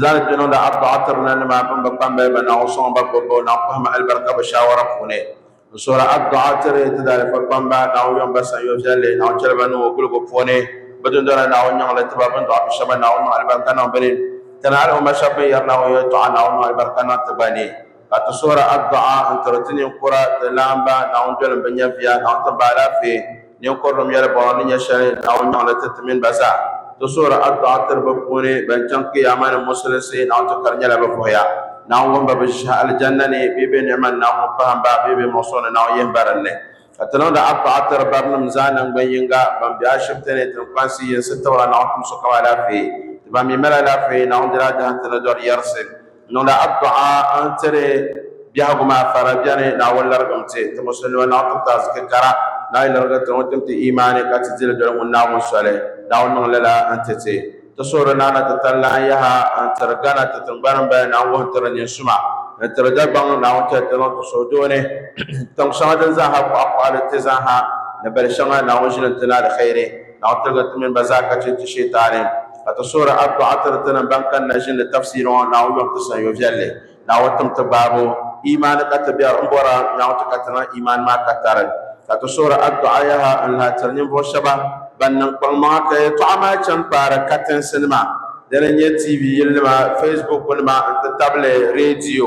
Zani kpe niŋdi a paɣa tirinali nima a kpamba kpambahi ba naɣu sɔŋ ba gbubi ba o naɣu pahim alibarika bɛ shaawara puuni. N suhiri a dɔɣa ti di ti daalifa kpamba naɣu yom ba sanyo viɛlli naɣu cheli ba niŋ o guligu puuni bɛ dundona naɣu nyaŋli ti ba bini dɔɣi bɛ shɛba naɣu niŋ alibarika niŋ bɛ ni. Tana al'umma shɛba bɛn yeri Naawuni yɛltɔɣa naɣu niŋ alibarika niŋ ti gba ni. ka ti suhiri adduɣa n-tiri ti ninkura ti laamba Naawuni doliŋ bi nyɛviya Naawuni ti ba alaafee ninkurinima yɛli bɔŋɔ ni nyɛ shɛli Naawuni niŋ li ti ti mini ba zaa ti suhiri adduɣa tiri bɛ puuni bɛn chaŋ Kiyaama ni musulinsi Naawuni ti kari nyɛla bɛ vuhiya Naawuni ŋun ba bɛ ʒiɛhi Alijanna ni bee bɛ niɣimani Naawuni pahim ba bee bɛ muɣisigu ni Naawuni yihim ba din ni ka ti niŋdi adduɣa tiri barinim zaa naŋgban yiŋga ban be ashibiti ni tiŋkpansi yinsi tibira Naawuni tum sokam alaafee ti ba mi mali alaafee Naawuni di daa dahi ti ni dɔri yɛrisi Niŋdi addu'a n-tiri biɛhigu maa fara beni, Naawuni larigim ti, ti Musulinima, naɣ tim ti aziki kara. Naai larigi ti ŋun tim ti iimaani ka ti dili doli ŋun Naawuni soli. Naawuni niŋ lala n-ti ti. Ti suhiri na na ti tari lahi yaha n-tiri Ghana ti tiŋgbani m-bala na n-wuhim ti di nyin suma ni ti di Dagbaŋ. Naawuni chɛli ti niŋ ti suhudooni tiŋ shɛŋa din zaa ha kɔɣikɔɣili ti zaa ha ni bali shɛŋa. Naawuni ʒili n-ti ni aliheri. Naawuni tiligi ti mini ba zaa ka chɛ ti Shɛtaani, ka ti suhiri adduɣa tiri ti ni bɛn kanna ʒini tafsiri ŋɔ Naawuni yom ti sanyo viɛlli. Naawuni tim ti gbaabu imaani ka ti biɛri m-bɔra Naawuni ti ka ti niŋ imaani maa ka tari, ka ti suhiri adduɣa yaha n-lahi tiri ninvuɣ shɛba ban niŋ kpaŋmaŋa ka yɛtɔɣa maa chani kpaari katinsinima, dini n-nyɛ TV yilinima, Facebook nima nti tabili radio.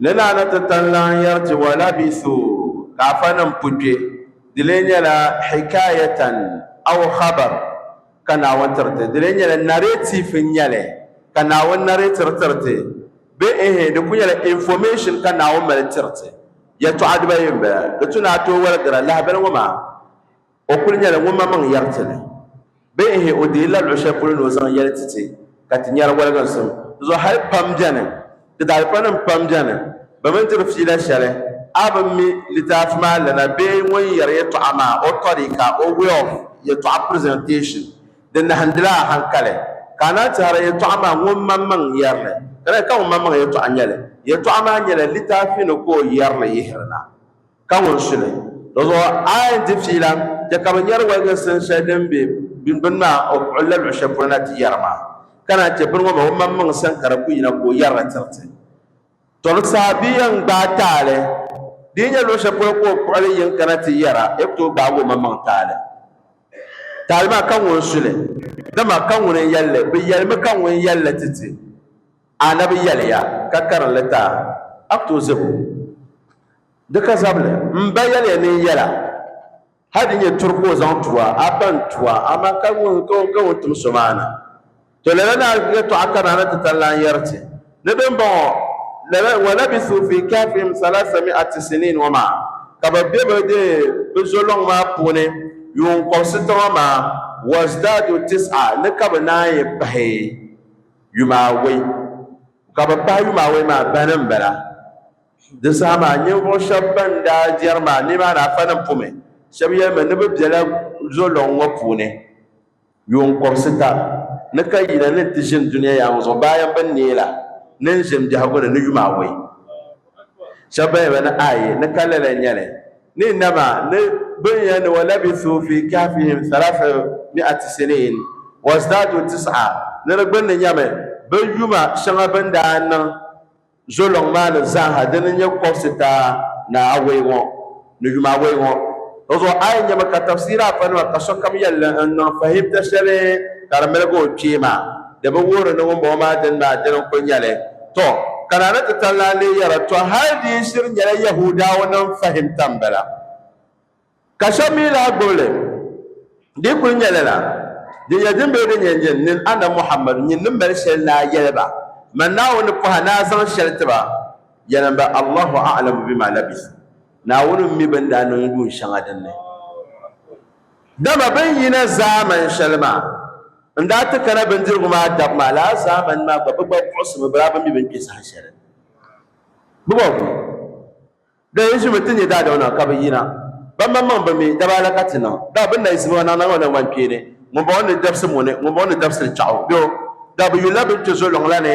Ni laa ni ti tan lahi yɛri ti wa labisu ka afanim pu kpe, di lee nyɛla hikaayatan aw khabar ka Naawuni tiri ti, di lee nyɛla narrative n-nyɛ li ka Naawuni narratiri tiri ti, bee ehe di kuli nyɛla information ka Naawuni mali tiri ti. Yɛltɔɣa dibayi m-bala, di tu ni a tooi waligira lahabali ŋɔ maa. O kuli nyɛla ŋun maŋmaŋ yɛri ti li. Bɛ yihi o deei la luɣ shɛli polo ni o zaŋ yɛli ti ti ka ti nyari waliginsim. Zuɣuhali pam beni, di daalipanim pam beni, bɛ mi diri fiila shɛli, a bi mi litaafi maa lana bee ŋun yɛri yɛtɔɣa maa o tɔriika, o way of yɛtɔɣa presentation, di nahindila a hankali. Ka a naan tɛhiri yɛtɔɣa maa ŋun maŋmaŋ yɛri li, ka di nyɛla ka ŋun maŋmaŋ yɛtɔɣa nyɛ li, yɛtɔɣa maa nyɛla litaafi ni ka o yɛri li yihiri na. Ka ŋun suli, dizuɣu a yɛn di fiila, chɛ ka bɛ nyari waligi sin shɛli din be bini maa o buɣili la luɣ shɛli polo na ti yɛri maa, ka naan chɛ bini ŋɔ mi o maŋmaŋ sani ka di ku yina ka o yɛri li tiri ti. Tɔ! Di saha bɛ yɛn gbaai taali, di yi nyɛ luɣ shɛli polo ka o buɣili yiŋ kana ti yɛra, ya bi tooi gbaagi o maŋmaŋ taali taali maa, ka ŋun suli, dama ka ŋuni n-yɛli li? Bɛ yɛlimi ka ŋuni yɛli li ti ti? Anabi yɛliya, ka karin li taai, a bi tooi zab o. Di ka zabili, m ba yɛli ya mini yɛla, hal di nyɛ turi ka o zaŋ tu a, a ba n-tu a, amaa ka o ni tim so maa na. Tɔ! Lala Naa yɛtɔɣa ka Naa na ti tan lan yɛri ti ni bɛmbɔŋɔ, lala, Walabisuu fii kahfihim salaasami'ati siniin ŋɔ maa, ka bɛ be bɛ di, bɛ zolɔŋ maa puuni yuun kɔbisitɔŋɔ maa, Wazdaadu tis'a, ni ka bɛ naan yi pahi yumaawei. Ka bɛ pahi yumaawei maa, bahi ni m-bala. Di saha maa ninvuɣ shɛb bɛn daa jɛri maa ni maa ni afanim pumi shɛb yɛlimi ni bɛ bela zolɔŋ ŋɔ puuni yooŋkɔbisita ni ka yina ni nti ʒini dunia yaaŋɔ zuɣu baayam bɛn neei la ni n ʒini biɛhigu ni ni yumawei. Shɛb bɛn yɛli ba ni, Ayi, ni ka lala n-nyɛ li. Ni innama, ni bɛ ni yɛli ni, Walabithuu fi kahfihim thalathami'ati siniin wazdadu tis'a, ni di gbinni nyɛmi bɛ yuma shɛŋa bɛ ni daa niŋ. Zolɔŋ maa ni zaaha di ni nyɛ kɔbisi ta ni awɔi ŋɔ ni yuma awɔi ŋɔ ŋɔ zuɣu a yi nyɛmi ka tafsir afa nima ka sokam yɛli li n niŋ fahimta shɛli ka di miligi o kpee maa di bi wuhiri ni ŋun bɔŋɔ maa dini maa dini n kuli nyɛli tɔ ka Naana ti tanlan leei yɛra tɔ hali di yi shiri nyɛla Yahudaawunim fahimta m bala. Ka shɛb mi lahi gbubi li, di kul nyɛ lala, din nyɛ din bee din nyɛ nyin, nini Annabi Muhammadu, nyin ni mali shɛli ni a yɛli ba, Man Naawuni ni pɔha ni a zaŋ shɛli ti ba, yɛli n ba, Allahu a'lamu bima labisu, Naawuni m-mi bɛ ni daa niŋ yuun shɛŋa din ni. Dama bɛ ni yina zaaman shɛli maa, n daa ti kana bindirigu maa dabu maa, lala zaaman maa gba bɛ gba buɣisimi, bɛ daa bi mi bɛ ni kpi saha shɛli. Bɛ gba bi. Daa yiɣisimi ti nya daadam na ka bɛ yina. Bammaŋmaŋ bɛ mi, Daba ala ka ti niŋ? Daa bɛ ni na yiɣisimi ba naŋ naŋ o ni ŋmani kpeeni, ŋumbɔŋɔ ni dabisi muni, ŋumbɔŋɔ ni dabisi di chɛɣu. Bɛ o, daa bɛ yulila bɛ ni ti zo luŋ la ni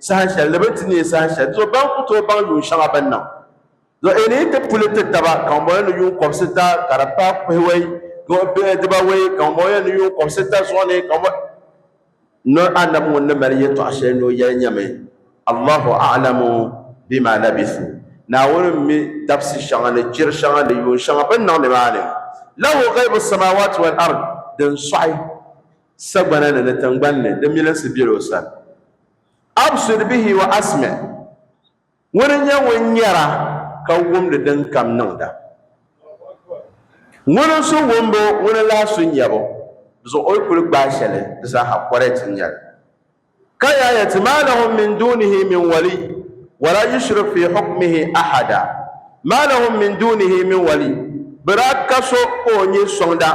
sahan shɛli, ni bɛ ni ti neei sahan shɛli. Dinzuɣu bɛ ni ku tooi baŋ yuun shɛŋa bɛ ni niŋ. Zuɣu e ni ti puli ti taba, ka ŋumbɔŋɔ ni yuun kɔbisi ta ka di paai kuhiwei, Dibawei, ka ŋumbɔŋɔ yɛn ni yuun kɔbisi ta zuɣu ni, ka ŋumbɔŋɔ. Nɔr Annabi ŋun ni mali yɛtɔɣ shɛli ni o yɛli nyɛmi, Allahu a'lamu bima labisu, Naawuni m-mi dabsi shɛŋa ni chir shɛŋa ni yuun shɛŋa bɛ ni niŋ nimaani. Lahu ghaibu samawati wal ard, Din sɔɣi sagbana ni ni tiŋgbani ni di milinsi bela o sani. Absir bihi wa asmi'. Ŋuni n-nyɛ ŋun nyara ka wumdi din kam niŋda? Ŋuni n-su wumbu, ŋuni lahi su nyabu? Di zuɣu o yi kul gbaai shɛli, di zaaha kɔrɛti n-nyɛ li. Ka yaa yɛti, Maa lahum min duunihi min waliy, wala yushrik fi hukmihi ahada. Maa lahum min duunihi min waliy, bɛ daa ka so ka o nyɛ sɔŋda,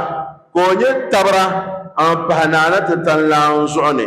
ka o nyɛ tabira aŋa pahi Naa na Tintaŋlan zuɣu ni.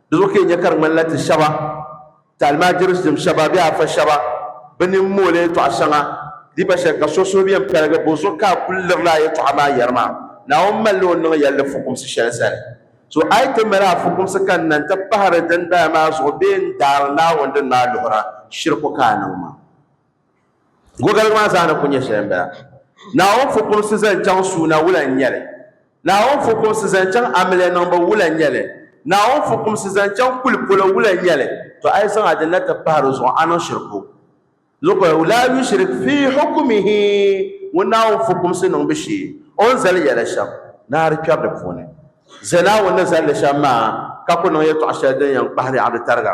Di zuɣu ka yi nya ka di ŋmanila ti shɛba, ti almaajirisim shɛba bee afa shɛba bi nini mooi la yɛtɔɣ shɛŋa. Di pa shɛli ka so suhu bi yɛn paligi bɔ zuɣu ka a kul liri la a yɛtɔɣa maa yɛri maa, Naawuni malila o ni niŋ ya li fukumsi shɛli zali. So a yi ti mali a fukumsi ka na nti pahiri din bala maa zuɣu bee n-daari Naawuni dini maa luhira, shiriku ka a niŋ maa. Gogaligu maa zaa ni ku nyɛ shɛli m-bala. Naawuni fukumsi zaŋ chaŋ suuna wula n-nyɛ li? Naawuni fukumsi zaŋ chaŋ amiliya niŋbu wula n-nyɛ li? Naawuni fukumsi zaŋ chaŋ kuli polo wula n-nyɛ li? Tɔ a yi zaŋ a din na ti pahi di zuɣu, a niŋ shiriku. Zuɣukpala, laa yushirik fii hukumihi, ŋun Naawuni fukumsi niŋ bi shee, o ni zali yɛla shɛm, ni a di kpɛri di puuni. Ʒe Naawuni ni zali li shɛm maa, ka ku niŋ yɛtɔɣ shɛli din yɛn kpahiri abdi tariga.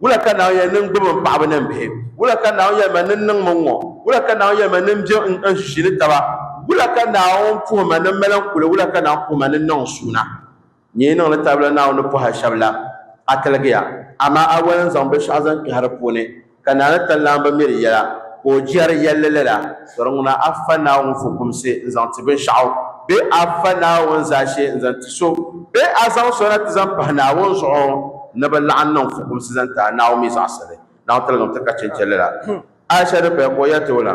Wula ka Naawuni yɛli ni n gbibi m paɣaba ni m bihi? Wula ka Naawuni yɛli ma ni n niŋ m ŋɔ? Wula ka Naawuni yɛli ma ni m be n ʒiʒi ni taba? Wula ka Naawuni puhi ma ni m mali n kuli? Wula ka Naawuni puhi ma ni n niŋ n suuna? Nyɛ yi niŋ li tabili Naawuni ni pɔhi a shɛb la, a tiligiya, amaa a wali n-zaŋ binshɛɣu zaŋ kpɛhi di puuni, ka naa ni talaamb miri yɛla, ka o jɛri yɛlli lala. Sɔri ŋuna a Fa Naawuni fukumsi n-zaŋ ti binshɛɣu, bee a Fa Naawuni zaashee n-zaŋ ti so, bee a zaŋ so na ti zaŋ pahi Naawuni zuɣu ni bɛ laɣim niŋ fukumsi zaŋ ti a Naawuni mi zaɣisili. Naawuni tiligiŋ ti ka chinchilli la. Aisha ni paya ka o yɛli ti o la.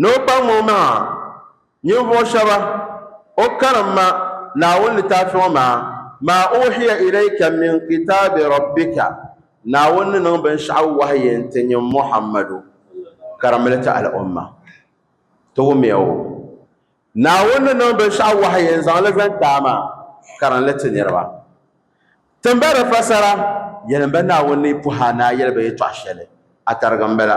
Ni o kpaŋ ŋɔ maa, ninvuɣ shɛba o karim ma Naawuni litaafi ŋɔ maa, Maa uuhiya ilayka min kitaabi Rabbika, Naawuni ni niŋ binshɛɣu wahiyi n-ti nyin Muhammadu, karim li ti al'umma. Ti wumiya o, Naawuni ni niŋ binshɛɣu wahiyi n-zaŋ li zani ti a maa, karim li ti niriba. Tim ba di fasara, yɛlim ba Naawuni ni yi puhi a ni a yɛli ba yɛtɔɣ shɛli, a tarigi m-bala.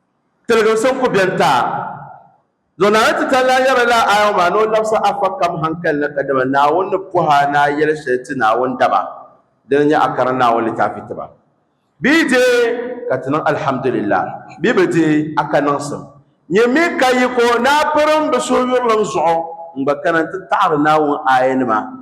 Tiliginsi n-ku beni taa. Zuɣunaayili Titali daa yɛri la a aya maa ni o labisi afa kam hankali ni kadama Naawuni ni pɔhi a ni a yɛli shɛli ti Naawuni daba, dini n-nyɛ a karim Naawuni litaafi ti ba, bɛ yi deei ka ti niŋ alhamdulillah, bɛ bi deei a ka niŋsim. Nyini mi ka yi ka o ni a pirim bɛ suhuyurlim zuɣu n-gba kana nti taɣiri Naawuni ayanima.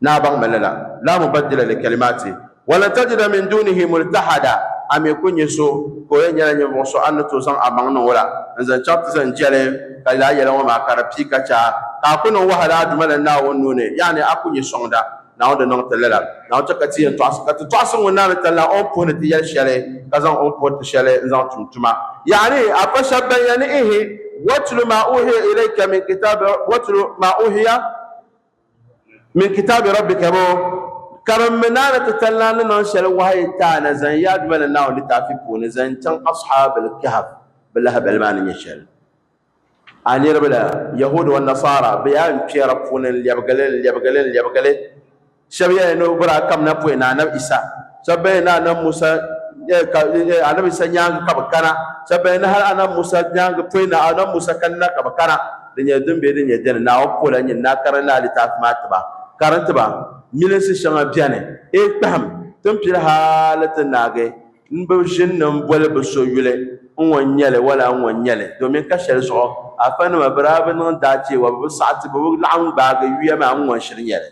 Naa baŋ mi lala, laa mubaddila li kalimati, walan tajida min dunihi multahada, a mi ku nya so ka o yɛn nyɛla ninvuɣ so a ni tooi zaŋ a maŋ niŋ o la n-zaŋ chaŋ ti zaŋ jɛli ka laa yɛla ŋɔ maa ka di pii ka chɛ a ka a ku niŋ wahala a dumalini Naawuni nuu ni, yaani a ku nya sɔŋda. Naawuni di niŋ ti lala, Naawuni chɛ ka ti yɛn tɔɣisi ka ti tɔɣisi ŋun naa ni ti lan o ni puhi ni ti yɛli shɛli ka zaŋ o ni puhi ti shɛli n-zaŋ tum tuma. Yaani, a pa shɛb bɛn ya ni ihi, Watlu ma uhiya ilayka min kitaab watlu ma uhiya, min kitaabi rabbika ŋɔ karimmi naani ti talina ni niŋ shɛli wahayi taana zaŋ yaaduma ni naawuni litaafi puuni zaŋ chaŋ ashaabul kahf bi lahabali maa ni nyɛ shɛli a niriba la yahuud wa nasaara bɛ yaa n kpɛra puuni n lɛbigili n lɛbigili n lɛbigili shɛba yɛli ni o bira kamina pɔi ni anabi isa Shɛba bɛn ni Anabi Musa Anabi Isa nyaaŋa ka bɛ kana, shɛba bɛn ni hal Anabi Musa nyaaŋa pɔi ni Anabi Musa kanina ka bɛ kana. Di nyɛla din be din nyɛ dini, Naawuni pɔla nyini ni a karim ni Alitafi maa ti ba. Karim ti ba, Milinsi shɛŋa beni, Ee kpahim! Ti ni pili hali ti naagi n bi ʒini ni n boli bɛ so yuli n ŋɔ n-nyɛ li wala n ŋɔ n-nyɛ li, domin ka shɛli zuɣu Afanima bɛ daa bi niŋ daacheewa, bɛ bi saɣiti, bɛ bi laɣim gbaagi yuya maa n ŋɔ n shiri nyɛ li.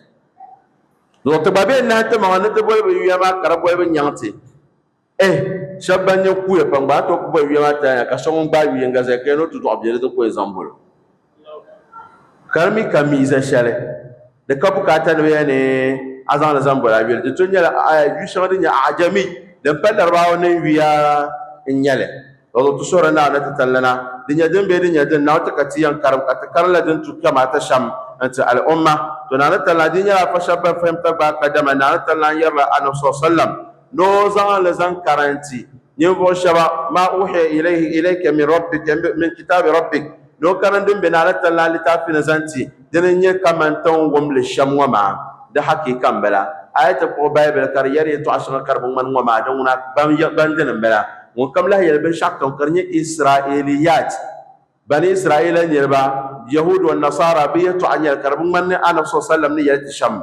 Zuɣu ti gba bee nahi ti maŋa ni ti boli bɛ yuya maa ka di boli bɛ nyaŋ ti. Eh! Shɛb ban nyɛ kuuya pam gba a tooi ku boli yuya maa taaya ka so ŋun gbaai yu yiŋga zali ka ya ni o ti dɔɣi bɛ di zuɣu ka o yɛn zaŋ bol o. Ka di mi ka miiza shɛli di ka bukaata ni bɛ ya ni a zaŋ li zaŋ boli a yuli di to nyɛla a yu shɛŋa din nyɛ Ajami din pa Larabawa nim yuya n-nyɛ li. Ka zaŋ ti suhuri Naa ni ti tali na, di nyɛ din bee di nyɛ din, naɣi ti ka ti yɛn karim, ka ti karinli din tu kpɛm ata shɛm n-ti al'umma. To Naa ni tali na, di nyɛla a fa shɛba bɛn fahim tagbaai kadama Naa ni tali na n-yɛrila Annabi sɔli sallam ni o zaŋ li zaŋ karinti ninvuɣu shɛba, Maa uhiya ilayhi ilayka min rabbik min kitaabi rabbik, Ni o karim din be Naa ni Talla litaafi ni zaŋ ti, dini n-nyɛ kaman ti ni wum li shɛm ŋɔ maa, di hakiika m-bala. Ayati kpuɣi Baibuli ka di yɛri yɛtɔɣ shɛŋa ka di bi ŋmani ŋɔ maa, di ŋuna ban dini m-bala, Ŋunkam lahi yɛli binshɛɣu kam ka di nyɛ Israiliyat, Bani Israila niriba, Yɛhuud wa Nasaara, bɛ yɛtɔɣa nyɛli ka di bi ŋmani ni Annabi sɔɔsallam ni yɛli ti shɛm.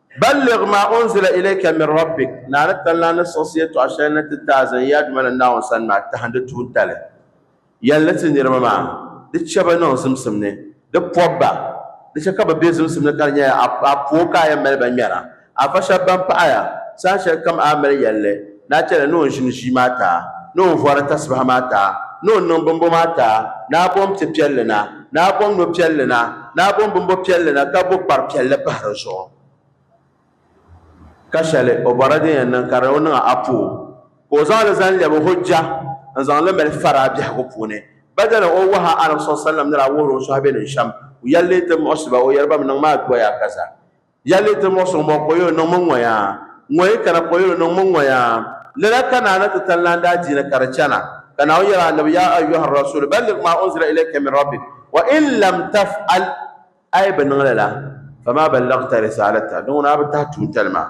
Balligh ma unzila ilayka min rabbik, Naa ni Tanlan ni siɣisi yɛtɔɣ shɛli ni ti taai zaŋ ya Duuma ni Naawuni sani maa tahindi tuuntali. Yɛli ni ti niriba maa, Di chɛ bɛ niŋ zimsim ni, di pɔb ba, di chɛ ka bɛ be zimsim ni ka di nyɛla a pooi ka a yɛn mali ba ŋmɛra. Afa shɛba bɛn paɣi ya, saha shɛlikam a mali yɛlli, Naa chɛli ni o ni ʒini ʒii maa taa, ni o ni vɔri tasibaha maa taa, ni o ni niŋ bimbo maa taa, Naa bom pie piɛlli na, Naa bom no piɛlli na, Naa bom bimbo piɛlli na ka bo kpar piɛlli pahi di zuɣu. Ka shɛli o bɔrila din yɛn niŋ ka di o niŋ a pooi, ka o zaŋ li zaŋ lɛbi hujja n-zaŋ li mali fara a biɛhigu puuni. Badalin o wahi a, Annabi sallallahu alaihi wasallam ni daa wuhiri o sɔhabinim shɛm yɛl leei ti muɣisi ba o yɛli ba mi niŋ ma a duwa ya kaza. Ya leei ti mɔɣu suŋ bɔ kɔyoli niŋmi ŋɔ ya, ŋɔ yi kana kɔyoli niŋmi ŋɔ ya. Lala ka Naa ni ti tali lan daa diini ka di chana. Ka Naawuni yɛli Annabi, Yaa ayyuha rasulu balligh maa unzila ilayka min rabbik wa in lam taf'al a yi bi niŋ lala famaa ballaghta risaalatahu di ŋuna a bi tahi tuuntali maa.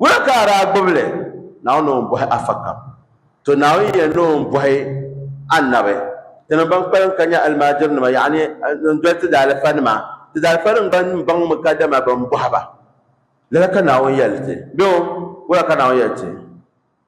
Wuya ka a daa gbibi li? Naawuni ni o ni bɔhi afa kam. To Naawuni yɛn ni o ni bɔhi Annabi, Ti ni baŋ kpalim ka nya almaajirinnima, yaani n doli ti daalifanima, ti daalifanim gba ni baŋ mi kadama bɛ ni bɔhi ba. Lala ka Naawuni yɛli ti. Bɛ o, wuya ka Naawuni yɛli ti?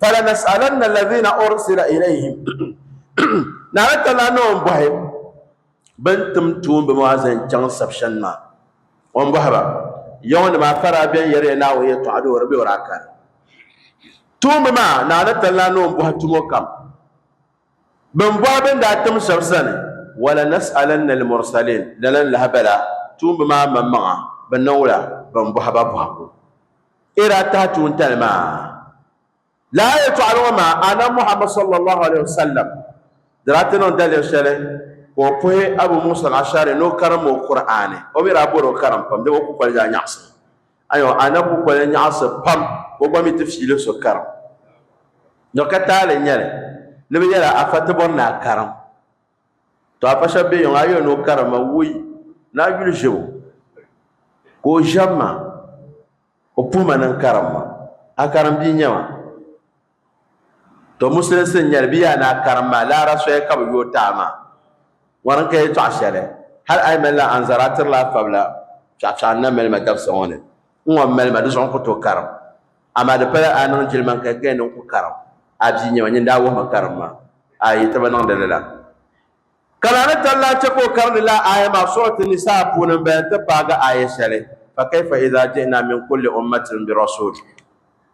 Fala nas'alanna alladhina ursila ilayhim Naawuni tala ni o bɔhi bin tim tuumba maa zaŋ chaŋ sabshɛn maa o bɔhi ba yawɔnima a kari a bɛn yɛriya Naawuni yɛtɔɣa di ɔri bɛ ɔri a kari tuumba maa Naawuni tala ni o bɔhi tumo kam bin bɔhi bin daa tim shɛb sani wala nas'alanna almursalin lala n-lahi bala tuumba maa maŋmaŋa bɛ niŋla ban bɔhi ba bɔhigu e daa tahi tuuntali maa. Lala yɛltɔɣili ŋɔ maa, Anabi Muhammad sallallahu alayhi wa sallam di daa ti niŋ daliya shɛli ka o puhi Abu Musa al-Ash'ari ni o karim o Kur'aani. O mi daa bɔri o karim pam dama o kukoli daa nyaɣisimi. Ayo, Anabi kukoli nyaɣisi pam ka o gba mi ti fiili so karim. Nyo ka taali n-nyɛ li ni bɛ yɛl a, Afa ti bɔri ni a karim? To afa shɛba be yiŋa a yuli ni o karim ma wuy ni a yuli ʒe o ka o ʒɛb ma o puhi ma ni n karim ma a karim bia nyɛ ma to musulinsi n nyɛli bɛ yaa ni a karim ma laara soya ka bɛ yo taɣi ma ŋɔri n ka yɛtɔɣa shɛli hal a yi mali la anzara a tiri la a fabila piɛɣu piɛɣu n na mali ma dabisa ŋɔ ni N ŋɔ m-mali ma, di zuɣu n ku tooi karim. Amaa di pala a niŋ jilima n-kali gaya ni n ku karim a bia nyɛma, nyin daa wuhi ma karim maa, a yi ti bi niŋdi li la. Ka naa ni tali lan chɛ ka o karindi lala aaya maa Surat An-Nisaa puuni m-bala nti paagi aaya shɛli, Fakayfa idha ji'na min kulli ummatin bi rasuul.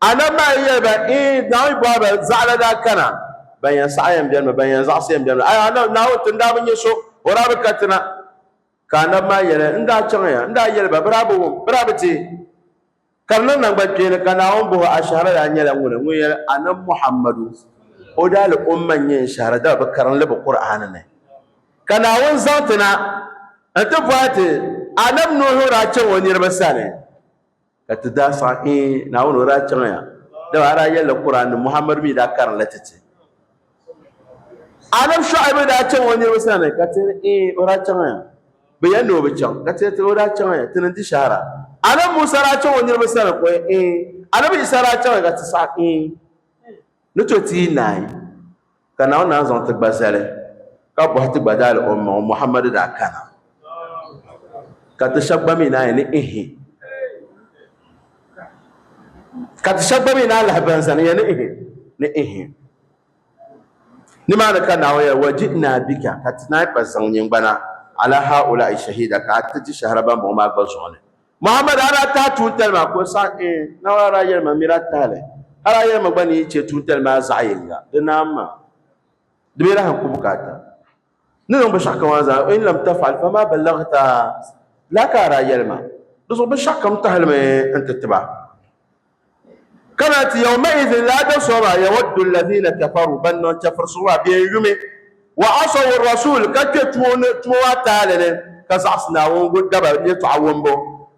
Annabi maa yɛli ba, Ee, Naawuni bɔhi ba, zaɣila daa kana? Ban yɛn saɣi yɛn bɛnimi, ban yɛn zaɣisi yɛn bɛnimi. Aya, Annabi, Naawuni ti ni daa bi nya so, o daa bi ka ti na. Ka Annabi maa yɛli, N daa chaŋya, n daa yɛli ba, bɛ daa bi wum, bɛ daa bi ti. Ka di niŋ naŋgbankpeeni ka Naawuni bɔhi o, A shɛhira daa nyɛla ŋuni? Ŋun yɛli, Annabi Muhammadu, o daa li umma n-nyɛ n shɛhira, dama bɛ karim li bɛ Kur'aani ni. Ka Naawuni zaŋ ti na n-ti bɔhi ti, Annabi Nuuhu daa chaŋ o niriba sani. Ka ti daa saɣi kpi Naawuni o daa chaŋ ya, dama a daa yɛlila Kur'an ni Muhammadu mi daa karinla ti ti. Anabi Shu'aibu daa chaŋ o niriba sani, ka ti ni, Ee, o daa chaŋ ya. Bɛ yɛli ni o bi chaŋ, ka ti yɛli, O daa chaŋ ya, ti ni n-di shɛhira. Anabi Musa daa chaŋ o niriba sani, ka o yɛli, Ee. Anabi Isa daa chaŋ ya, ka ti saɣi kpi ni ti o ti yi naai. ka Naawuni naan zaŋ ti gba zali, ka bɔhi ti gba daali o maŋa Muhammadu daa kana, ka ti shɛba gba mi naan yi ni ihi, ka ti shɛba gba mi naan lahi bɛn zani ya ni ihi, ni ihi. Nimaani ka Naawuni yɛli, wa ji'na bika, ka ti naan yi kpa zaŋ nyin gbana, ala ha'ula'i shahida, ka a ti ti shɛhira ban bɔŋɔ maa gba zuɣu ni, Muhammad a daa tahi tuuntali maa ka o saɣi ka eei Naawuni a daa yɛli ma miri a tahili a daa yɛli ma gba ni yi chɛ tuuntali maa zaɣ yiŋga di naam maa di be lahi n ku bukaata ni niŋ binshɛɣu kam maa zaa in lam tafal fama ballagta lala ka a daa yɛli ma di zuɣu binshɛɣu kam tahili mi n ti ti ba Kana ti yawmaidhin laa dab suɣu maa yawaddu alladhina kafaru ban niŋ chɛfuri suɣu maa bee n-yumi wa asawu rasul ka kpe tumo ni tumo maa taali ni ka zaɣisi Naawuni gu daba yɛtɔɣa wumbu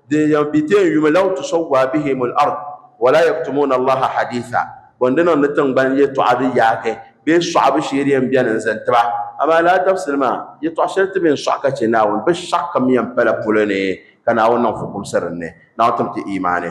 din yɛn bi ti n-yumi law tusawwa bihimul ard wa la yaktumuuna Allaha hadiitha bɔn di niŋ ni tiŋgbani yɛtɔɣa di yaagi bee sɔɣibu shee di yɛn beni n-zani ti ba amaa laa dabisili maa yɛtɔɣ shɛli ti bɛn sɔɣi ka chɛ Naawuni bɛ shak kam yɛn pala polo ni ka Naawuni niŋ fukumsi din ni Naawuni tim ti iimaani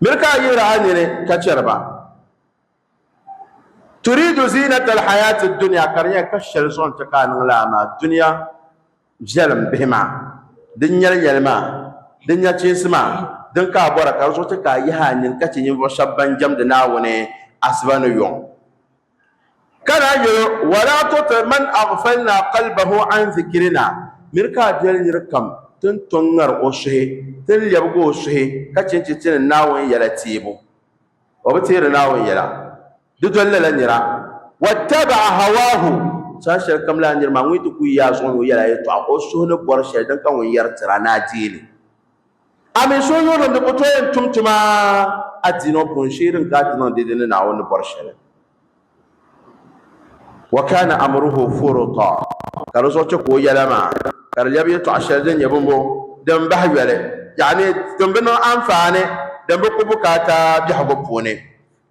Miri ka a yihiri a nini ka chɛri ba. Turiidu ziinata alhayaati dunia ka di nyɛla ka shɛli zuɣu n-ti ka a niŋ lala maa, dunia viɛlim bihi maa, di nyɛlinyɛli maa, di nyɛchiinsi maa, dini ka a bɔra ka di zuɣu ti ka a yihi a nini ka chɛ ninvuɣu shɛba ban jɛmdi Naawuni asiba ni yuŋ. Ka daa yɛl o, Wala tuti man aɣifalna kalibahu an zikirina, miri ka a doli nir kam ti ni tɔŋ ŋari o suhi ti ni lɛbigi o suhi ka chɛ nti ti ni Naawuni yɛla teebu. O bi teeri Naawuni yɛla, di doli lala nira. Wattaba hawaahu, saha shɛli kam lala nir maa ŋun yi ti ku yi a zuɣu ni o yɛl a yɛtɔɣa, o suhu ni bɔri shɛli din ka ŋun yɛri tira ni a deei li. A mi suhuyurlim di ku tooi n-tum tuma a diin ŋɔ puuni shee din ka a ti niŋ di di ni Naawuni ni bɔri shɛli. Wa kana amruhu furuta, ka di zuɣu chɛ ka o yɛla maa ka di lɛbi yɛtɔɣ shɛli din nyɛ bimbo din bahi yoli, yaani din bi niŋ anfaani, din bi ku bukaata biɛhigu puuni.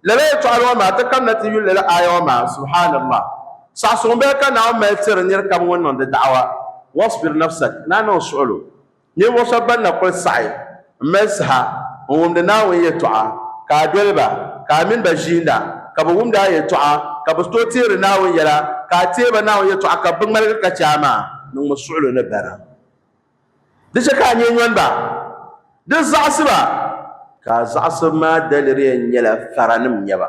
Lala yɛtɔɣili ŋɔ maa, ti kamina ti yuli lala aaya ŋɔ maa, Subhaanallah! Saɣisigu m-bala ka Naawuni mali tiri nir kam ŋun niŋdi da'awa, Wasbir nafsak, Naa niŋ suɣulo Ninvuɣ shɛb bɛn na kul saɣi m-mali saha n-wumdi Naawuni yɛtɔɣa, ka a doli ba, ka a mini ba ʒiinda, ka bɛ wumdi a yɛtɔɣa, ka bɛ tooi teeri Naawuni yɛla, ka a teei ba Naawuni yɛtɔɣa ka bɛ bi ŋmaligi ka chɛ a maa, niŋmi suɣilo ni bana. Di chɛ ka a nyɛ nyɔn ba, di zaɣisi ba, ka a zaɣisib maa daliriya nyɛla faranim n-nyɛ ba.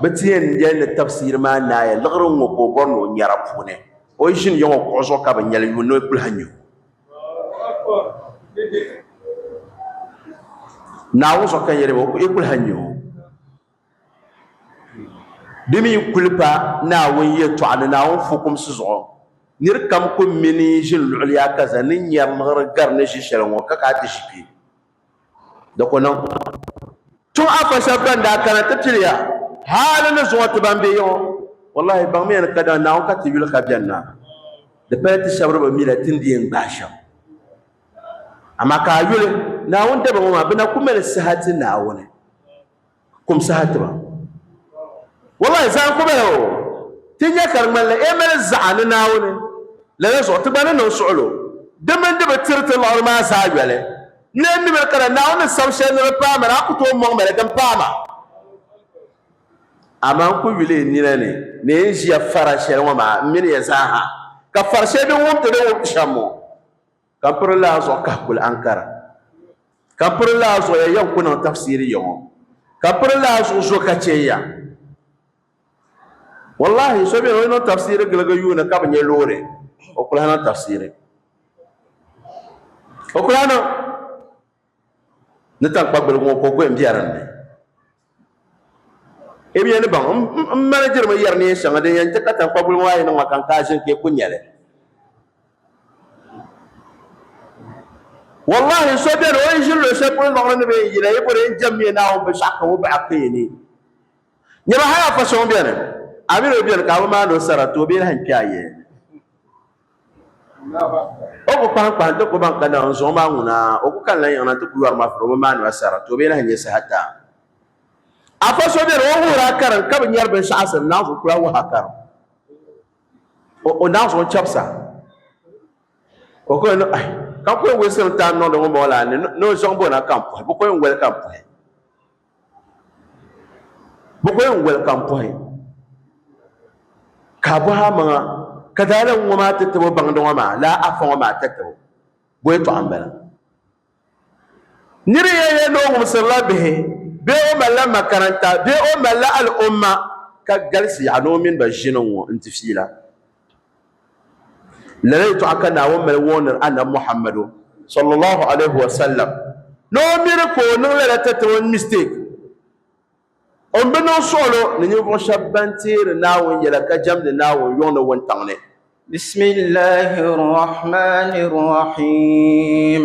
Bɛ ti yɛn yɛli ni tafsir maa naai liɣiri ŋ-ŋɔ ka o bɔri ni o nyara puuni o yi ʒini ya ŋɔ kuɣu zuɣu ka bɛ nyali yuun ni o kpuliha nya o. Naawuni zuɣu ka nyali ba o yi kpuliha nya o. Di mi kuli pa Naawuni yɛtɔɣa ni Naawuni fukumsi zuɣu, nir kam ku mini yi ʒini luɣili ya ka zaŋ ni nyari liɣiri gari ni ʒi shɛli ŋɔ ka ka a ti ʒi kpe. Di ku niŋ. Chuɣu afa shɛb bɛn daa kana ti piliya hali ni zuŋɔ ti ban be yiŋɔ, wallahi baŋmiya ni kadaŋ Naawuni ka ti yuli ka beni na. Di pala ti shɛb di bi mi la ti ni di yɛn gbaai shɛm. Amaa ka a yuli, Naawuni daba ŋɔ maa, bɛ na ku mali saha ti Naawuni. Kum saha ti ba. Wallahi zaa ku bahi o. Ti nya ka di ŋmanila e mali zaɣa ni Naawuni. Lala zuɣu ti gba ni niŋ suɣulo. Di mini di bi tiri ti liɣiri maa zaa yoli. N lee mi mi ka na Naawuni ni sabi sheli ni di paai ma na a ku tooi mɔŋ ma li din paai ma. Amaa n ku yuli n nina ni ni e ni ʒiya fara sheli ŋɔ maa m mini ya zaa ha. Ka fari sheli din wumti ni wumti shem ŋɔ. Ka piri laa zuɣu kahi kuli ankara. Ka piri laa zuɣu ya yɛn ku niŋ tafsiri yiŋɔ. Ka piri laa zuɣu zo ka chɛ ya. Wallahi so beni o yi niŋ tafsiri giligi yuuni ka bi nyɛ loori o kulahi niŋ tafsiri. O kulahi niŋ. ni tankpagbuli ŋɔ ko goyim biɛri n-ni. N mi a ni baŋ, m mali diri mi yɛri neen shɛŋa din yɛn chɛ ka tankpagbuli ŋɔ a yi niŋ ma ka n kaai ʒini ka yi ku nya li. Wɔllaahi, so beni o yi ʒini luɣ shɛli polo lɔɣiri ni bɛ yi yil a, yi bɔri yi jɛmmiya Naawuni binshɛɣu kam o baɣa ka yi ni nya ba. Hal afa so ŋun beni, a min o beni ka a bi maani o sara, ti o bee lahi n-kpe a yɛya ni. O ku kpahi kpahi nti ku ban ka Naawuni zuɣu maa ŋuna, o ku kalinla yiŋ na nti ku yɔri maa firi o mini maa ni ba sara, tooi bee lahi nyɛ saha ta. Afa so beni, o wuhir a karim ka bi nyari binshɛɣu sani, Naawuni zuɣu kul a wuhi a karim. O Naawuni zuɣu n-chabi sa. O ku yɛli ni, Ai, ka ku yɛn wulisirim taan niŋdi ŋumbɔŋɔ la ni, ni o zaŋ bɔna ka m puhi, bi ku yɛn wali ka m puhi. Bɛ gba yɛn wali ka m-pɔhi ka a bɔhi a maŋa ka daala ŋ-ŋɔ maa ti tabo baŋda ŋɔ maa laa afa ŋɔ maa tatabo bɔ yɛtɔɣa m-bala. Niri yɛn yɛli ni o ŋumsirila bihi bee o malila makaranta bee o malila al'umma ka galisi yaɣa ni o mini ba ʒini ŋ-ŋɔ nti fiila. Lala yɛtɔɣa ka Naawuni mali wɔniri Anabi Muhammadu, sallallahu alaihi wa sallam, ni o miri ka o niŋ lala tatabo ni mistake. O ni bi niŋ suɣilo ni ninvuɣu shɛba ban teeri Naawuni yɛla ka jɛmdi Naawuni yuŋ ni wuntaŋ ni. Bisimillahi rahmaani rahiim.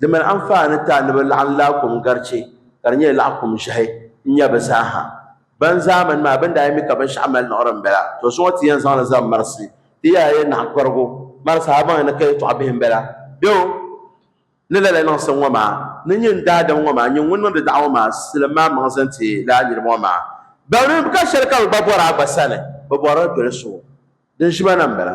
Di mali anfaani ti a ni bi laɣim laɣikum garichi ka di nyɛla laɣikum ʒehi n-nyɛ bɛ zaa ha. Ban zaamani maa bɛ ni daa mi ka binshɛɣu mali niɣiri m-bala, to zuŋɔ ti yɛn zaŋli zali marisi ti yɛl a yɛn naɣi kɔrigu. Marisi a baŋya ni ka yɛtɔɣ bihi m-bala bɛ o ni lala niŋsim ŋɔ maa ni nyin daadam ŋɔ maa, nyin ŋun niŋdi daɣu ŋɔ maa silim maa maŋ zaŋ ti lala niriba ŋɔ maa. Bɛ mi ka shɛli ka bɛ gba bɔri a gba sani, bɛ bɔrila doli suŋ din ʒi ba na m-bala.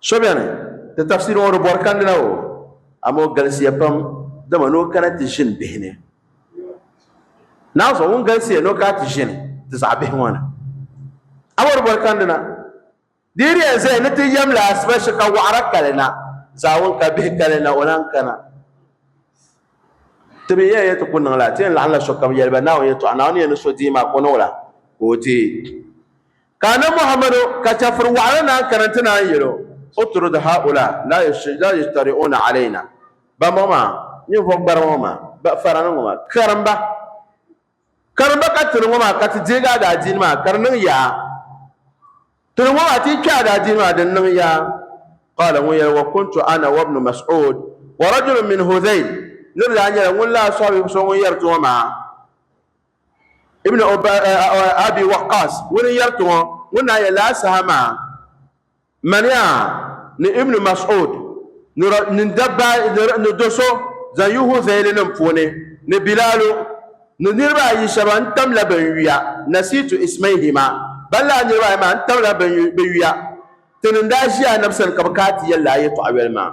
So beni, ti tafsir ŋɔ di bɔri kandila o, amaa o galisiya pam, dama ni o kana ti ʒini bihi ni. Naawuni ŋun galisiya ni o kana ti ʒini ti zaɣ bihi ŋɔ ni. Amaa di bɔri kandina, di yi di yɛn zaya ni ti yɛm laasiba shɛ ka waɣira kali na, zaɣ ŋun ka bihi kali na o lan kana. Ti mi yɛliya ti ku niŋla, ti yɛn laɣimla sokam yɛli ba Naawuni yɛtɔɣa, Naawuni ni yɛn ni so deei maa ka o niŋ o la, ka o deei. Ka Annabi Muhammadu, ka chɛfuri waɣila naan kana nti naan yɛl o, Utrid haulaa laa yajtari'uuna alayna, Bambɔŋɔ maa, ninvuɣ gbariŋ ŋɔ maa, ba farani ŋɔ maa, karim ba, karim ba ka ti ni ŋɔ maa ka ti deeg a daadiini maa ka di niŋ yaa, ti ni ŋɔ maa ti yi kpe a daadiini maa din niŋ yaa. Qaala ŋun yɛli, Wa kuntu ana wa Ibnu Mas'uud wa rajulun min Hudhayl, ni di daa nyɛla ŋun laa sɔhabihi so ŋun yɛri ti ŋɔ maa, ibn abi waqas ŋuni n yɛri ti ŋɔ ŋuni naa yɛla saha maa mania ni ibn mas'ud ni dabba ni do so zaŋ yi huzayli nim puuni ni bilalu ni niriba ayi shɛba n tamla bin yuya nasitu ismayhima ban laa niriba ayi maa n tamla bi yuya tini n daa ʒiya anabi sani ka bi kaa ti yɛlila yɛtɔɣa yoli maa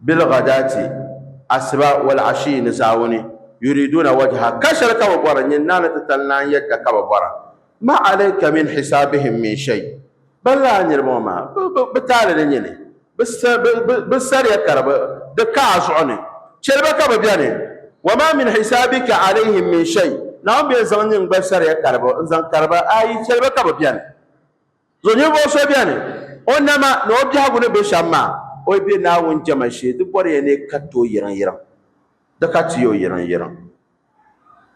Bilghadaati, asiba wal ashii ni zaawuni, yuriiduuna wajha, ka shɛli ka bɛ bɔri nyin na ni ti tali naan yɛdda ka bɛ bɔra, ma alayka min hisaabihim min shay, ban lala niriba ŋɔ maa bɛ taali ni nyini bɛ sariya ka di ka a zuɣu ni, chɛli ba ka bɛ beni, wa ma min hisaabika alayhim min shay, Naawuni bɛn zaŋ nyin gba sariya karibu n-zaŋ kari ba ayi chɛli ba ka bɛ beni. Zo ninvuɣ so beni, o nama ni o biɛhigu ni be shɛm maa, o yi be Naawuni jɛma shee, di bɔri ya ni yi ka ti o yiriŋyiriŋ, di ka ti ya o yiriŋyiriŋ.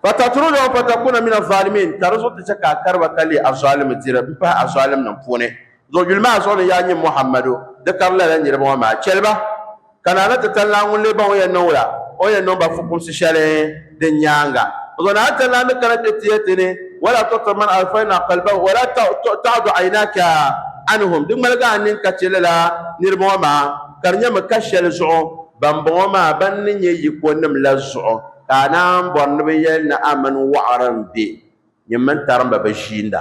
Patatruda o patakuna mini a zalimi n-ta di zuɣu ti chɛ ka a kari ba ka leei azalimi diri m-pahi azaliminima puuni. Zo yuli maa zuɣu ni, Yaa nyini Muhammadu, di kari lala niriba ŋɔ maa, chɛli ba! Ka Naana Titalinana ŋun lee baŋ o yɛn niŋ wula? O yɛn niŋ ba fukumsi shɛli din nyaaŋa. O zaŋ Naana Titalinana mi kana kpe ti ya ti ni, Walaa tuɣtir man alifayna qalbahum walaa taɣdu aynaka anhum, di ŋmaligi a nini ka chɛ lala niriba ŋɔ maa, ka di nyɛmi ka shɛli zuɣu bambɔŋɔ maa ban ni nyɛ yikonim la zuɣu ka a naan bɔri ni bɛ yɛli ni a mini wɔɣiri m-be nyimmintarimba bi ʒiinda.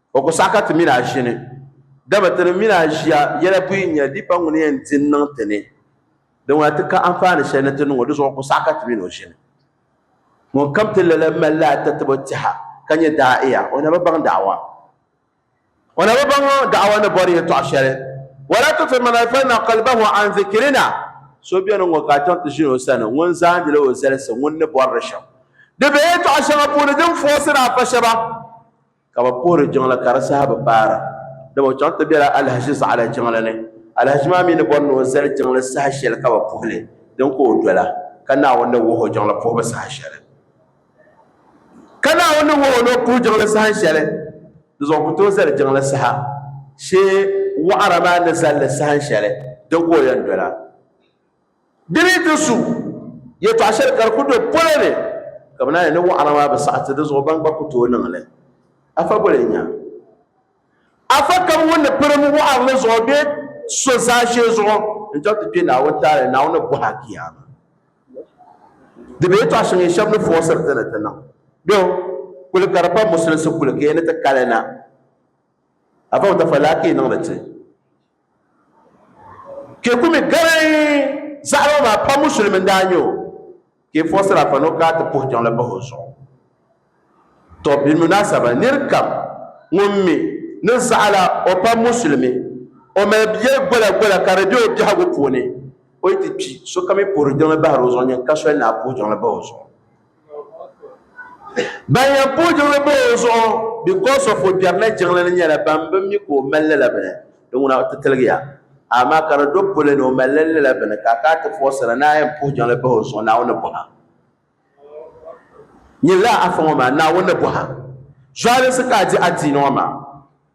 O ku saɣi ka ti mini a ʒini, dama ti ni mini a ʒiya yɛla buyi n-nyɛli, di pa ŋuni yɛn di n-niŋ ti ni. Di ŋuna ti ka anfaani shɛli ni ti niŋ o, di zuɣu o ku saɣi ka ti mini o ʒini. Ŋun kam ti lala malila tatabo tɛha, ka nyɛ daa'iya, o na bi baŋ da'awa. O na bi baŋ da'awa ni bɔri yɛtɔɣ shɛli. Wala tuti' man aghfalna qalbahu an dhikrina, so beni ŋ-ŋɔ ka a chaŋ ti ʒini o sani, ŋun zaandila o zalisi, ŋun ni bɔri di shɛm. Di be yɛtɔɣ shɛŋa puuni din fuɣisiri a pa shɛba. Ka bɛ puhiri jiŋli ka di saha bi paara. Dama o chaŋ ti bela alahichi zaɣila jiŋli ni. Alahichi maa mi ni bɔri ni o zali jiŋli saha shɛli ka bɛ puhi li, din ka o dola, ka Naawuni ni wuhi o jiŋli puhibu saha shɛli. Ka Naawuni ni wuhi o ni o puhi jiŋli sahan shɛli, di zuɣu o ku tooi zali jiŋli saha shee waɣira maa ni zal li sahan shɛli, din ka o yɛn dola. Di ni ti su yɛtɔɣ shɛli ka di ku do polo ni, ka bɛ naai ni wɔɣila maa bi saɣiti di zuɣu, ban gba ku tooi niŋ li. Afa gol yi nya? Afa kam ŋun ni pirim wɔɣirili zuɣu bee so zaashee zuɣu n-chaŋ ti kpe Naawuni taali, Naawuni ni bɔh a Kiyaama. Di be yɛtɔɣ shɛŋa yi shɛb ni fɔɣisiri ti ni ti niŋ. Doo, kuli ka di pa Musulinsi kuli ka yi ni ti kali na. Afa bi ta fa lala ka yi niŋdi ti. Kɛ ku mi gari zaɣibu maa pam musulimi n daa nyɛ o, kɛ fɔɣisiri afa ni o gaa ti puhi jiŋli bahi o zuɣu. Tɔ bilmunaasaba, nir kam ŋun mi ni zaɣila o pam musulimi, o mali biɛli gola gola ka di be o biɛhigu puuni, o yi ti kpi, sokam yi puhiri jiŋli bahir o zuɣu nyin ka soli ni a puhi jiŋli bahi o zuɣu. Ban yɛn puhi jiŋli pa o zuɣu because of o kpɛri la jiŋli ni nyɛla ban bi mi ka o mali lala bini di ŋuna o ti tiligiya amaa ka di do polo ni o mali li lala bini ka a kana ti fɔɣisira ni a yɛn puhi jiŋli bahi o zuɣu Naawuni ni bɔha nyini la afa ŋɔ maa Naawuni ni bɔha zualisi ka a di adiini ŋɔ maa.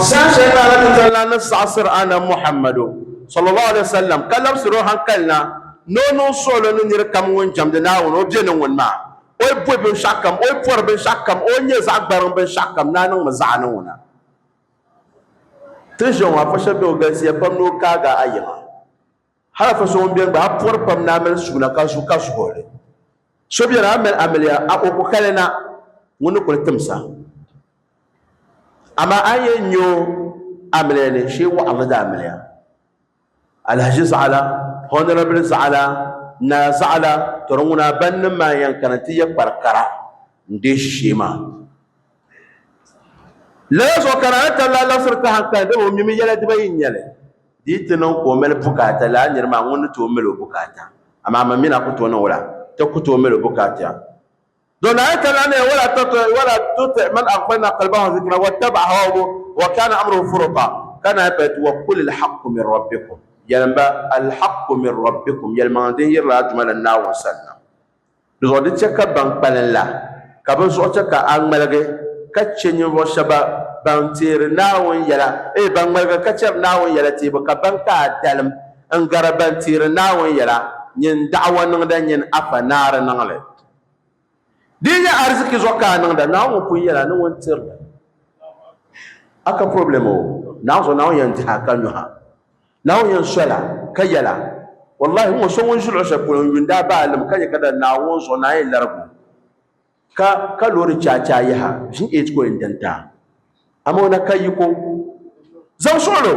Saha shɛli ka Alaah Tintɔlana ni saɣisiri Anabi Muhammadu, sallallahu alaihi wasallam, ka labisiri o haŋkali na ni o niŋ suɣulo ni nirikam ŋun jɛmdi Naawuni o bɛ ni ŋuni maa. O yi boi binshɛɣu kam, o yi pɔri binshɛɣu kam, o yi nyɛ zaɣ gbariŋ binshɛɣu kam, naa niŋmi zaɣa ni ŋuna. Ti ʒiɛŋɔ afa shɛba beni o galisiya pam ni o kaaga a yiŋa. Hal afa so ŋun beni gba a pɔri pam ni a mali suuna ka zu ka suhi o li. So beni a mali amiliya a o ku kali na ŋun ni kuli tim sa. Amaa a ni yɛn nya o amiliya ni shee waɣirili di amiliya. Alhaji Zaɣala, Honorable Zaɣala, Naa Zaɣala, Tɔra ŋuna ban nim maa yan kana ti ya kpari kara n-deei shishee maa. Lala zuɣu ka Naa Talla alaɣisiri ti hankali dama o mimi yɛla dibayi n-nyɛ li, di yi ti niŋ ka o mali bukaata lala niri maa ŋun ni tooi mali o bukaata, amaa man mi ni a ku tooi niŋ o la, ti ku tooi mali o bukaata. Don na yi kana ni wala tɔtɔi wala tutɔi mali ankpali na kali bahi zikira wa tabi ahɔɔbu wa kana amruhu furuta ka naan paya ti wa kuli lhaqqu min rabbikum yɛlim ba alhaqqu min rabbikum yɛlimaŋli din yirila a Duuma la Naawuni sani na. Di zuɣu di chɛ ka ban kpalim la ka bɛ zuɣu chɛ ka a ŋmaligi ka chɛ ninvuɣ shɛba ban teeri Naawuni yɛla, ee ban ŋmaligi ka chɛri Naawuni yɛla teebu ka ban ka a dalim n-gari ban teeri Naawuni yɛla nyin da'awa niŋda nyin afa naari niŋ li. Di yi nyɛ ariziki zuɣu ka a niŋda, Naawuni ŋun pun yɛla ni ŋun tiri li, a ka problem o. Naawuni zuɣu Naawuni yɛn dihi a ka nyɔh a. Naawuni yɛn sola ka yɛla, Wallahi n ŋɔ so ŋun ʒi luɣ shɛli polo n-yuun daa bahi alim ka nya ka di la Naawuni zuɣu ni a yɛn larigi o ka ka loori chaachaa yaha vision eight ka o yɛn dɛnta a. Amaa o na ka yiko zaŋ suɣili o.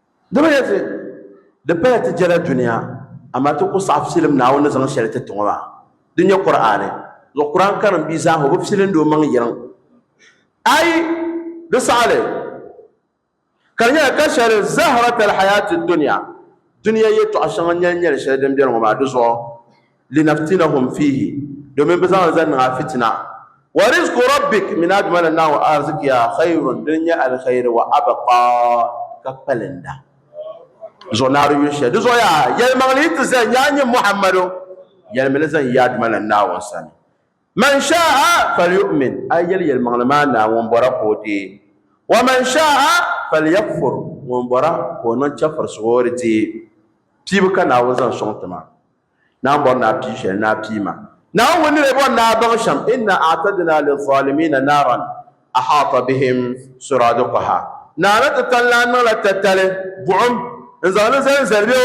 Di bi yɛti, Di paya ti jɛla dunia, amaa ti ku saɣi filim Naawuni ni zaŋ shɛli ti ti ŋɔ maa, din nyɛ Kur'aani, zuɣu. Kur'aan karim bia zaa ha o bi filindi o maŋ yiriŋ ayi di saɣi li, ka di nyɛla ka shɛli zahratal hayaati dunia, dunia yɛtɔɣa shɛŋa nyɛlinyɛli shɛli din beni ŋɔ maa di zuɣu. linaftinahum fiihi, domin bɛ zaŋ li zaŋ niŋ a fitina. Wa rizqu rabbik, min a Duuma ni Naawuni arzikiya, khayrun, dini n-nyɛ alkhairi, wa abqa, di ka kpalinda. Zuɣu naari yuli shɛli. Di zuɣu yaa yɛlimaŋli yi ti zaya, nyaa nyini Muhammadu, yɛlimi li zaŋ yi a Duuma ni Naawuni sani. Man sha'a falyu'min, a yi yɛli yɛlimaŋli maa naa, ŋun bɔra ka o deei. Wa man sha'a falyakfur, ŋun bɔra ka o niŋ chɛfurisigu o di deei. Piibu ka Naawuni zaŋ sɔŋ ti ma. Naa bɔri ni a pii shɛli ni a pii ma. Naawuni ŋun ni lee bɔri ni a baŋ shɛm, Inna a'tadna lizzalimina naaran ahaata bihim suradiquha, Naa na ti tanlan niŋla tattali buɣim n-zaŋ li zali zali bɛ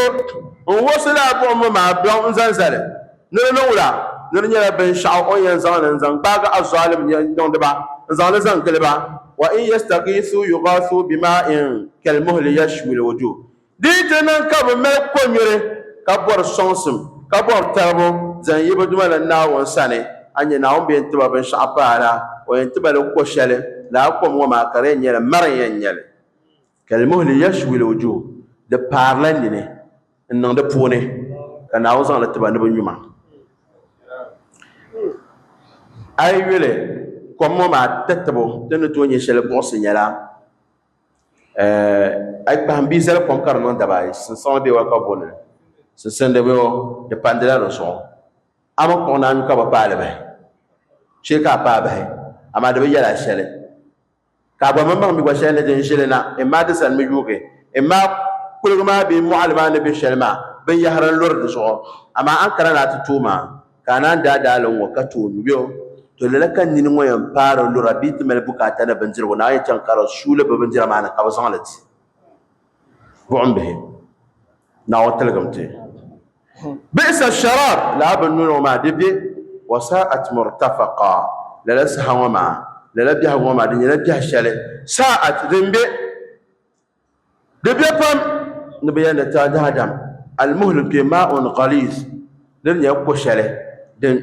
o, n wɔbisi lala buɣim ŋɔ maa baŋ n-zali zali ni di niŋ wula, ni di nyɛla binshɛɣu o ni yɛn zaŋ li n-zaŋ gbaagi azzaalim niŋdiba n-zaŋ li zaŋ gili ba, Wa in yastagiithuu yugaathuu bimaa'in kalmuhli yashwi lwujuuh, Di yi ti niŋ ka bɛ mali konyuri ka bɔri sɔŋsim ka bɔri taribu zaŋ yi bɛ dumalana Naawuni sani, a ni nya Naawuni bɛ yɛn ti ba binshɛɣu paai la, o yɛn ti ba li ko shɛli lala kom ŋɔ maa ka di yɛn nyɛ li mari n-yɛn nya li. Kalmuhli yashwi lwujuh, di paarila nini n-niŋ di puuni, ka Naawuni zaŋ li ti ba ni bɛ nyu ma. A yi yuli kom ŋɔ maa tatibu, ti ni tooi nya shɛli buɣisi nyɛla. a yi kpaham bia zali kom ka di niŋ daba ayi sinsama bɛ wa ka bi bolili sinsindi bɛ wa di pandila di zuɣu a mi kpuɣu ni a nyu ka bi paai li bahi chɛ ka a paai bahi amaa di bi yɛli a shɛli ka a gba maŋmaŋ mi gba shɛli ni din ʒili na imaa di sani mi yuugi imaa kuligi maa bee moɣali maa ni bɛ shɛli maa binyahari n luri di zuɣu amaa a ni kana ni a ti tooi maa Ka a naan daa daali ŋ-ŋɔ ka ti o nyu o, to lala ka n nini ŋɔ yɛn paari o lura bee ti mali bukaata ni bindirigu, naa yɛn chaŋ ka di suuli bɛ bindira maa ni ka bɛ zaŋ li ti buɣim bihi. Naa o tiligim ti. Bi'sa sharaab, lala bɛ ni nyu li ŋɔ maa di be, wa saa'at murtafaqa, lala saha ŋɔ maa, lala biɛhigu ŋɔ maa di nyɛla biɛhi shɛli, saa'at din be. Di be pam ni bɛ yɛn ni ti daadam al-muhlu kpe maa'un ghaliz din nyɛ ko shɛli din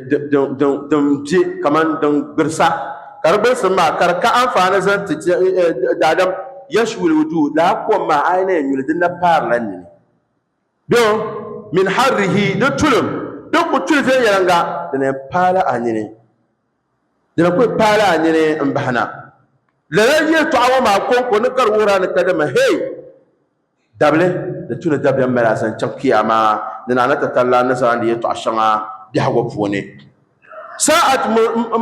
be kaman din gbirisa ka di gbirisim maa ka di ka anfaani zaŋ ti daadam yashwi al-wujuh, lala kom maa a yi na yɛn nyu li di na paarila nini. Bɛ min harrihi di tulim din ku tuli viɛnyɛliŋga di na yɛn paala a nini. Di na kul paai la a nini m-bahi na. Lala yɛltɔɣa ŋɔ maa kɔŋko ni ka di wuhir a ni ka dama hee dabili ni tu ni dabiɛm mali a zaŋ chaŋ Kiyaama ni ni a na ti tari lan ni zaani yɛltɔɣa shɛŋa biɛhigu puuni. Saa'at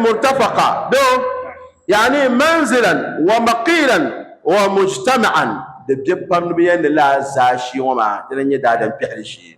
murtafaqa doo, yaani manzilan wa maqiilan wa mujtami'an, di be pam ni bɛ yɛn ni lahi zaai shee ŋɔ maa, dina n-nyɛ daadam kpɛhili shee.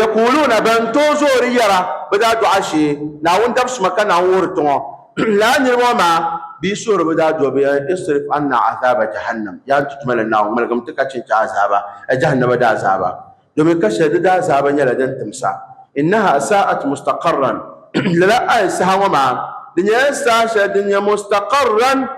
Yaquluuna, ban tooi zoori yɛra bɛ daadɔɣa shee, Naawuni dabisima ka Naawuni wuhiri ti ŋɔ, Lala niriba ŋɔ maa bɛ yi suhiri bɛ daadɔbi ya, Isrif anna azaaba Jahannam, Yaa n ti tuma la Naawuni, ŋmaligim ti ka chin ti azaaba, Jahannama daazaaba, domin ka shɛli di daazaaba nyɛla din timsa, Innaha sa'at mustaqarran, Lala ayi saha ŋɔ maa di nyɛla saha shɛli din nyɛ mustaqarran,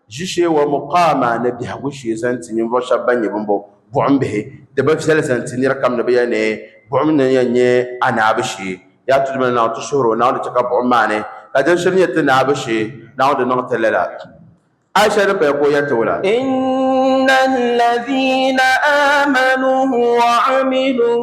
Ʒishee wa Muqaama ni biɛhigu shee zaŋ ti ninvuɣ shɛb bɛn nyɛ bimbɔŋ buɣim bihi, di bi viɛli zaŋ ti nir kam ni bɛ yɛl ni buɣim ni yɛn nyɛ a naabishee. Yaa tudu mini Naawuni, ti suhir o, Naawuni di chɛ ka buɣim maa ni ka din shiri nyɛ ti naabishee, Naawuni di niŋ ti lala. Aisha ni paya ka o yɛli ti wula? Inna alladhina aamanu wa amilu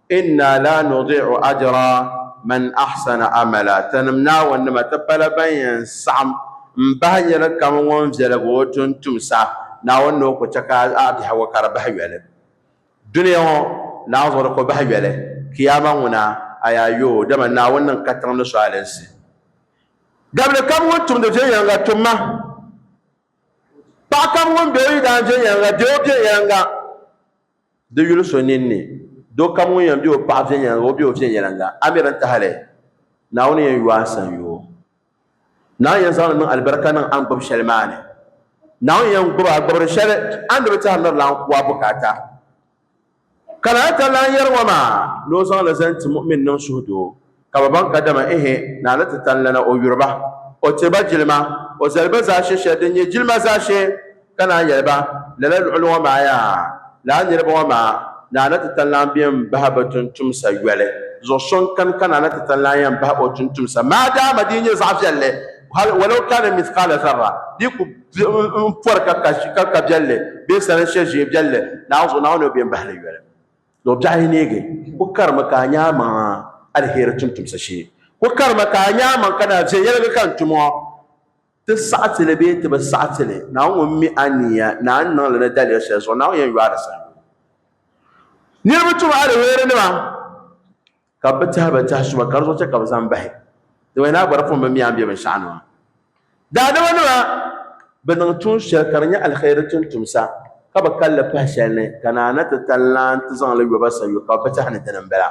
Inna la nudi'u ajra man ahsana amala, Tinim Naawunima ti pala ban yɛn saɣim m-bahi niri kam ŋun viɛligi o tuntumsa, Naawuni ni o ku chɛ ka a biɛhigu ka di bahi yoli. Dunia ŋɔ naa zuɣu di ku bahi yoli, Kiyaama ŋuna a yaa yoo, dama Naawuni niŋ katiŋ ni so alinsi. Dabili kam ŋun tumdi viɛnyɛliŋga tum ma, paɣa kam ŋun be o yidaan viɛnyɛliŋga, be o viɛnyɛliŋga. Di yuli so ninni, do kam ŋun yɛn be o paɣa viɛnyɛliŋga o be o viɛnyɛliŋga, a mi din tahili, Naawuni yɛn yo a sanyoo. Naa yɛn zaŋ li niŋ alibarika niŋ a ni gbib shɛli maa ni. Naawuni yɛn gbib a gbibiri shɛli a ni di bi tɛha nirilan ku a bukaata. Ka Naa ta lan yɛri ŋɔ maa ni o zaŋ li zani ti mu'min niŋ suhudoo. ka bɛ baŋ kadama ihi naa ni ti tani lana o yuri ba, o tiri ba jilima, o zali ba zaashee shɛli din nyɛ jilima zaashee, ka naan yɛli ba, Lala luɣili ŋɔ maa yaa, lala niriba ŋɔ maa, naa ni ti tani lan be m-bahi bɛ tuntumsa yoli zuɣu, so n-kani ka naa ni ti tani lan yɛn bahi o tuntumsa maadaama di nyɛ zaɣ viɛlli, hal walaw kana mithqala dharra, di ku pɔri ka ka biɛlli bee salinshɛ ʒee biɛlli Naawuni zuɣu, Naawuni ni o be m-bahi li yoli. Dɔ biɛɣu yi neegi, ku karimi ka a nya a maŋa aliheri tumtumsi shee. Ku karimi ka a nya a maŋ ka daa viɛnyɛliga ka n tum o. Ti saɣi ti li bee ti bi saɣi ti li, Naawuni ŋun mi a nia ni a ni niŋ li ni daliya shɛli zuɣu, Naawuni yɛn yɔhiri saha. Niriba tum aliherinima. Ka bɛ tɛhi bɛ tɛhi suma ka di zuɣu chɛ ka bɛ zaŋ bahi. Dama Naa Gbara pun bi mi a ni be binshɛɣu ni maa. Daadimanima! Bɛ niŋ tuun shɛli ka di nyɛ alihɛiri tuntumsa, ka bi kal li pahi shɛli ni, ka Naa na ti tan lan ti zaŋ li yo ba sayo, ka bɛ bi tɛhi ni dini m-bala.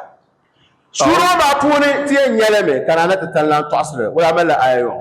Suura maa puuni ti yɛn nya li mi ka Naa na ti tan lan tɔɣisiri wala amalila aaya yɔŋ.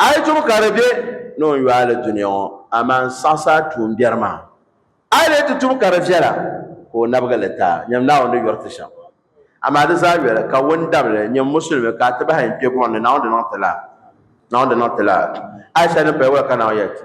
A yi tubi ka di be ni o ni yo a li dunia ŋɔ, amaa n-saɣisi a tuumbiɛri maa. A yi lee ti tubi ka di viɛla, ka o nabigi li ti a, nyam Naawuni di yuri ti shɛm. Amaa di zaa yoli, ka wundabili, nyini Musulimi, ka a ti bahi n-kpe buɣim ni Naawuni di niŋ ti la. Aisha ni paya wala ka Naawuni yɛli ti,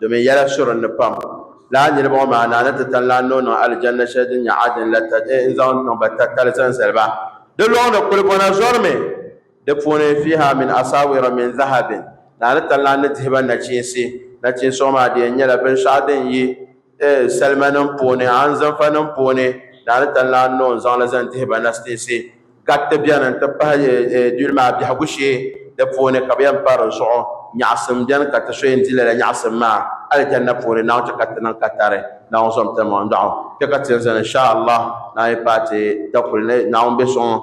domin yɛla suri ni pam laa niriba ŋɔ maa naani ti tani lan noo niŋ alijanna shɛli din nyɛ adin la n zaŋ niŋ ba tatali zan zali ba di lɔŋni kulibɔna zɔrimi Di puuni, fiiha min asaawira min dhahabin, naa ni tani lan ni dihi ba nachiinsi. Nachiinsigu maa di yɛn nyɛla binshɛɣu din yi salimanim puuni, anzinfanim puuni, naa ni tani lan no n-zaŋ li zaŋ dihi ba nastiinsi. Gariti beni n-ti pahi duli maa biɛhigu shee di puuni, ka bɛ yɛn pa di zuɣu nyaɣisim beni ka ti so yɛn di lala nyaɣisim maa Aljanna puuni. Naawuni chɛ ka ti niŋ katari. Naawuni zom tiri ma o dɔɣu. Kpe ka ti yɛn zani, Insha Allah, Naawuni yi paai ti dakuli ni Naawuni be suŋ.